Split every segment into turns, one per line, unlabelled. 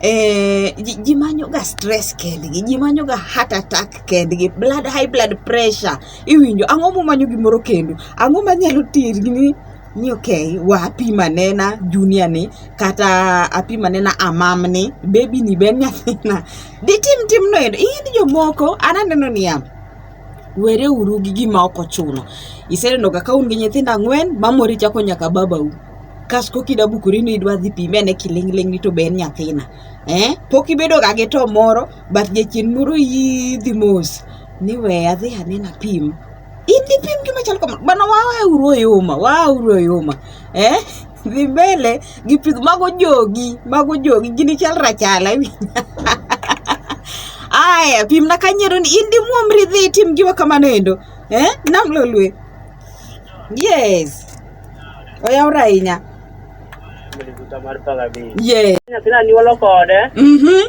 eh, ji, ji manyoga stress kendgi ji manyoga heart attack kendgi blood high blood pressure iwinjo ang'o mumanyo gimoro kendo ang'o manyalo terni ni ni okay wapima nena junior ni kata apima nena amam ni baby ni ben nyathina ditim timno endo in jomoko ananeno niya were uru gi gima ok ochuno. Iseneno ga ka un gi nyithindo ang'wen, mamori chako nyaka babau. Kas koki da bukori ni idwa dhi pime ne kiling'ling ni to be en nyathina. Eh, pok ibedo ga gi to moro, but jachien moro yidhi mos. Ni we adhi anena pim. Idhi pim gima chal kamano. Bana wawe uru oyuma, wawe uru oyuma. eh dhi mbele gi pith mago jogi mago jogi gini chal rachala aya pimna kanyero ni in dimuomri dhi itim giwa kamano endo eh nam lolwe yes oyawre ahinya yes nyathina nyuolo
kode mhm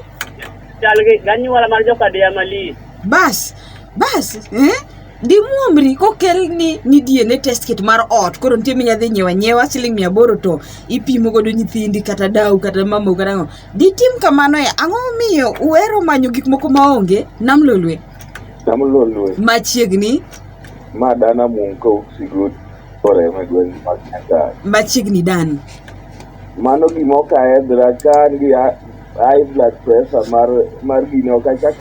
chal gi ganyuola mar joka dia malis bas
bas eh di muomri kokel ni ni DNA test kit mar ot koro nitie minya dhi nyiewa nyiewa siling mia aboro to ipimo godo nyithindi kata dau kata mamau kata ang'o ditim kamano e ang'o momiyo uhero manyo gik moko maonge nam lolwe Nam lolwe. machiegni Ma dana
mum ka usigo oreme gweng' mag Nyandarua. machiegni dani
mano
gima ok ahedhra ka an gi hi- high blood pressure mar mar gini ok achak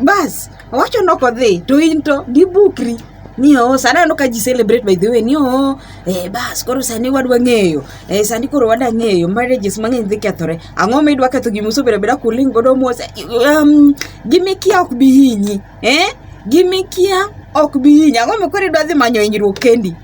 bas wacho
noko dhi to in to gibukri ni oo sani aneno ka ji celebrate by the way ni oo eh, bas koro sani wadwa ng'eyo eh, sani koro wada ng'eyo marriages mang'eny dhi kethore ang'o ma idwa ketho gima usebedo abeda kuling godo mos um, gimikia ok bi hinyi eh? gimikia ok bi hinyi ang'o ma koro idwa dhi manyo hinyruok kendi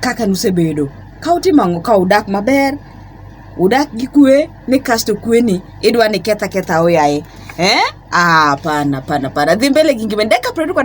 kaka nusebedo ka utimo ang'o ka udak maber udak gi kwe ni kasto kwe ni idwa ni ketha ketha oyaye eh? Ah, hapana hapana hapana, dhi mbele gi ngima dakika 20 kwa